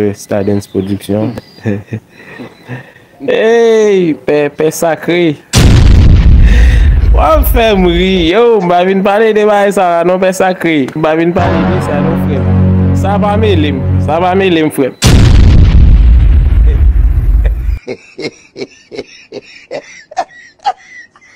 Pè stadens production Eyy pè pè sakre Wap fèm ri yo m pa vin pale de bagay sa la non pè sakre m pa vin pale de sa non frèm sa pa melem sa pa melem frèm.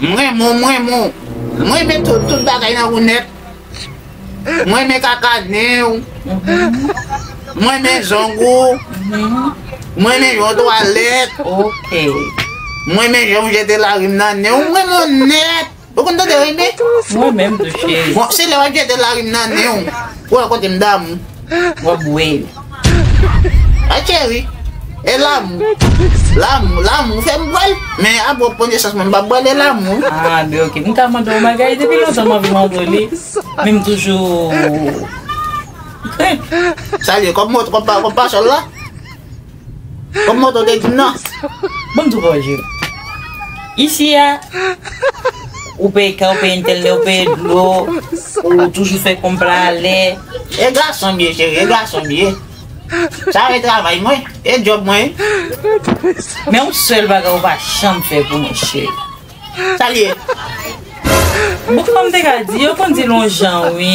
M renmen w, m renmen w M renmen tout, tout bagay nan ou nèt M renmen kaka nen w M renmen zong ou M renmen jan w twalèt M renmen jan w jete larim nan nen w M renmen w nèt Ou konn tande Rene? Mwen menm tou cheri. Bon, se lè wap jete larim nan nenw pou wè kotem damou. Wap bwe yo. Ay cheri, e lamou. Lamou, lamou fèm bwèl. Men a bon premye chans mwen mpap bwèl e lamou. Ah be ok. Mta mande yon bagay depi lontan manvi mande w li. Men mtoujou krenk. Salye, kòb mwen, kòb pa, kòb pa sòl la? Kom moto te di nan. Banm di w bagay cheri. Isi a ou peye kay ou peye entènè ou peye dlo ou toujou fè konm pla alè. E gason m ye cheri e gason m ye. Sa e travay mwen e job mwen wi. Men yon sèl bagay ou pa janm fè pou mwen cheri. Sa l ye? Bon kòm m te ka di yo konn di l yon jan wi.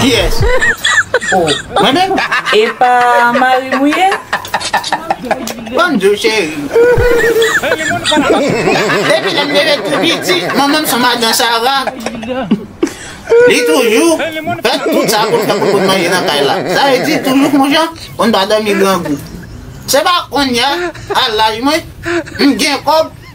Kiyes ou mwen menm. Epa marim ou ye. Bonjou cheri. Depi lèm te ret tou piti manmanm son madan sara. Li toujou fè tout sa poun fè pou poun manje nan kay la. Sa vle di toujou fon jan poun pa domi grangou. Se pa konnya a laj mwen m gen kob.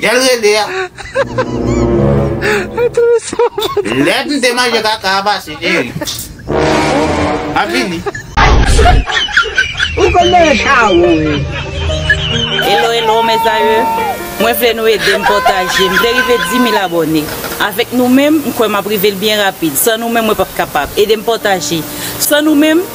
Jel rele a. Lè m te manje kaka a pase cheri. Map vini. Ou konn nan chawon wi. Hello hello mes amour Mwen vle nou edem pataje M vle rive 10000 abone Avek nou menm m kwè map rivel byen rapid San nou menm mwen pap kapab Edem pataje San nou menm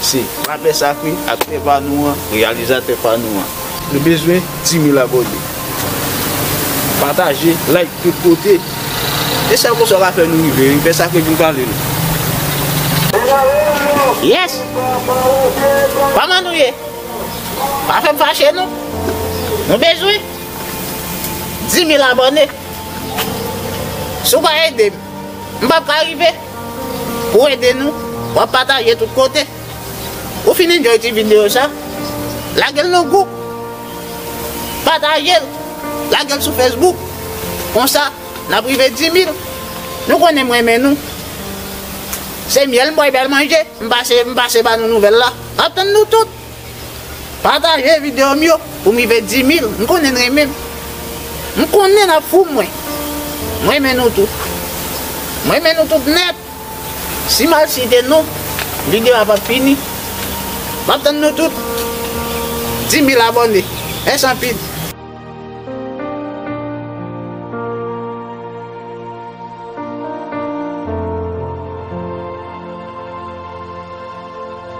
Se Papè Sakre, aktè pa nou an, reyalizatè pa nou an. Nou bezwen 10000 abòne. Pataje, like tout kote. E sa konsa w ka fè nou rive wi. Pè Sakre vin pale nou. Yes! Kòman nou ye? Pa fè m fache non. Nou bezwen 10000 abòne. Si w pa ede m, m p ap ka rive. Pou ede nou, wap pataje tout kote. Ou fin enjoy ti video sa, lagel nan gwoup, patajel, lagel sou Facebook, konsa nap rive 10000. Nou konnen m renmen nou. Se myèl m bwè bèl manje, m pase m pase ba nou nouvèl la. Map tann nou tout. Pataje video m yo pou m rive 10000 m konnen n renmen m m konnen nap fou mwen m renmen nou tout m renmen nou tout nèt si mal site non video a pap fini map tann nou tout 10000 abòne mèsi anpil.